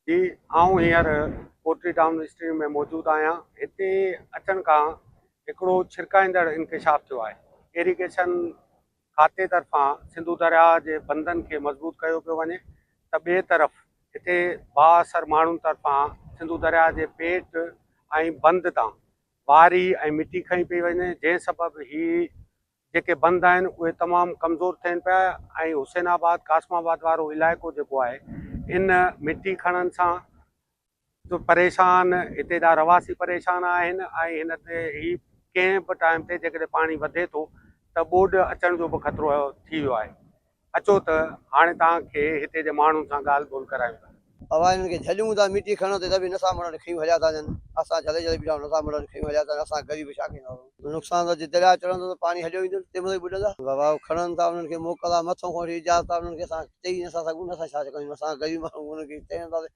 جي آئون هينئر پوٽري ٽائون اسٽريم ۾ موجود آهيان هتي اچڻ کان هڪڙو ڇرڪائيندڙ انڪشاف ٿيو آهي ايريگيشن کاتي طرفان سنڌو درياهه جي بندن کي مضبوط ڪيو پيو وڃي ته ٻئي طرف هتي بااثر ماڻهن طرفان سنڌو درياهه جي پيٽ ۽ بند تان واري ۽ مٽي کنئي پئي وڃي جنهن سبب هي جيڪي بند آهن اهي تمام ڪمزور ٿين پيا ۽ حسين آباد قاسم آباد وارو علائقو جيڪو آهي ان مٽي کڻڻ سان جو پريشان هتي جا رهواسي پريشان آهن ۽ هن تي هي ڪنهن به ٽائيم تي جيڪڏهن پاڻي وڌي ٿو ته ٻوڏ اچڻ جو به خطرو ٿي ويو آهي اچو ته هاڻي توهان کي هتي جي ماڻهن سان ڳالهه ٻولهه ڪرايون ٿا. اوهان هنن کي جهليون ٿا مٽي کڻڻ تي ته به نسا مڙڻ کنيون هليا ٿا اچن اسان جهلي جهلي بيٺا آهيون نسا مڙڻ کنيون هليا ٿا اچن اسان غريب ڇا ڪندا هو. نقصان ته جي درياء چڙهندو ته پاڻي هليو ايندو تنهن مهل ئي ٻڏندا. بابا هو کڻن ٿا انهن کي موڪل آهي مٿو کان وٺي اجازت آهي انهن کي اسان چئي نسا سگهون نه اسان ڇا ڪيون اسان غريب ماڻهون انهن کي چئي نسا سگهون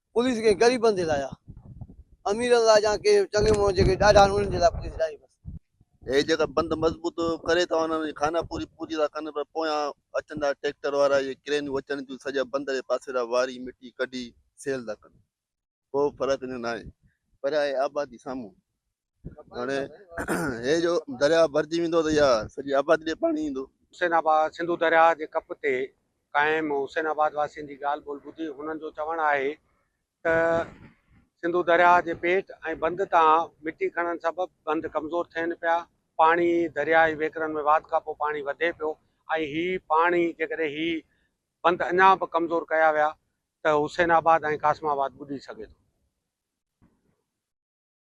پوليس ڪنهن غريبن جي لاء آ اميرن لاء جا ڪي چڱي ماڻهو جيڪي ڏاڍا آهن انهن جي لاء پوليس ناهي بس. هي جيڪا بند مضبوط ڪري ٿا وڃن ۽ خانه پوري پوري ٿا ڪن پر پويان اچن ٿا ٽيڪٽر وارا اهي ڪرينيون اچن ٿيون سڄا بند جي پاسي ڏانهن واري مٽي ڪڍي سيل ٿا ڪن ڪو فرق ناهي پر آهي آبادي سامهون هاڻي هي جو درياهه ڀرجي ويندو ته اها سڄي آبادي ڏي پاڻي ايندو. حسين آباد، سنڌو درياهه جي ڪپ تي قائم حسين آباد واسين جي ڳالهه ٻولهه ٻڌي هنن جو چوڻ آهي ته سنڌو درياهه جي پيٽ ۽ بند تان مٽي کڻڻ سبب بند ڪمزور ٿين پيا، پاڻي درياهه جي وهڪرن ۾ واڌ کانپوء پاڻي وڌي پيو ۽ هي پاڻي جيڪڏهن هي بند اڃا به ڪمزور ڪيا ويا ته حسين آباد ۽ قاسم آباد ٻڏي سگهي ٿو.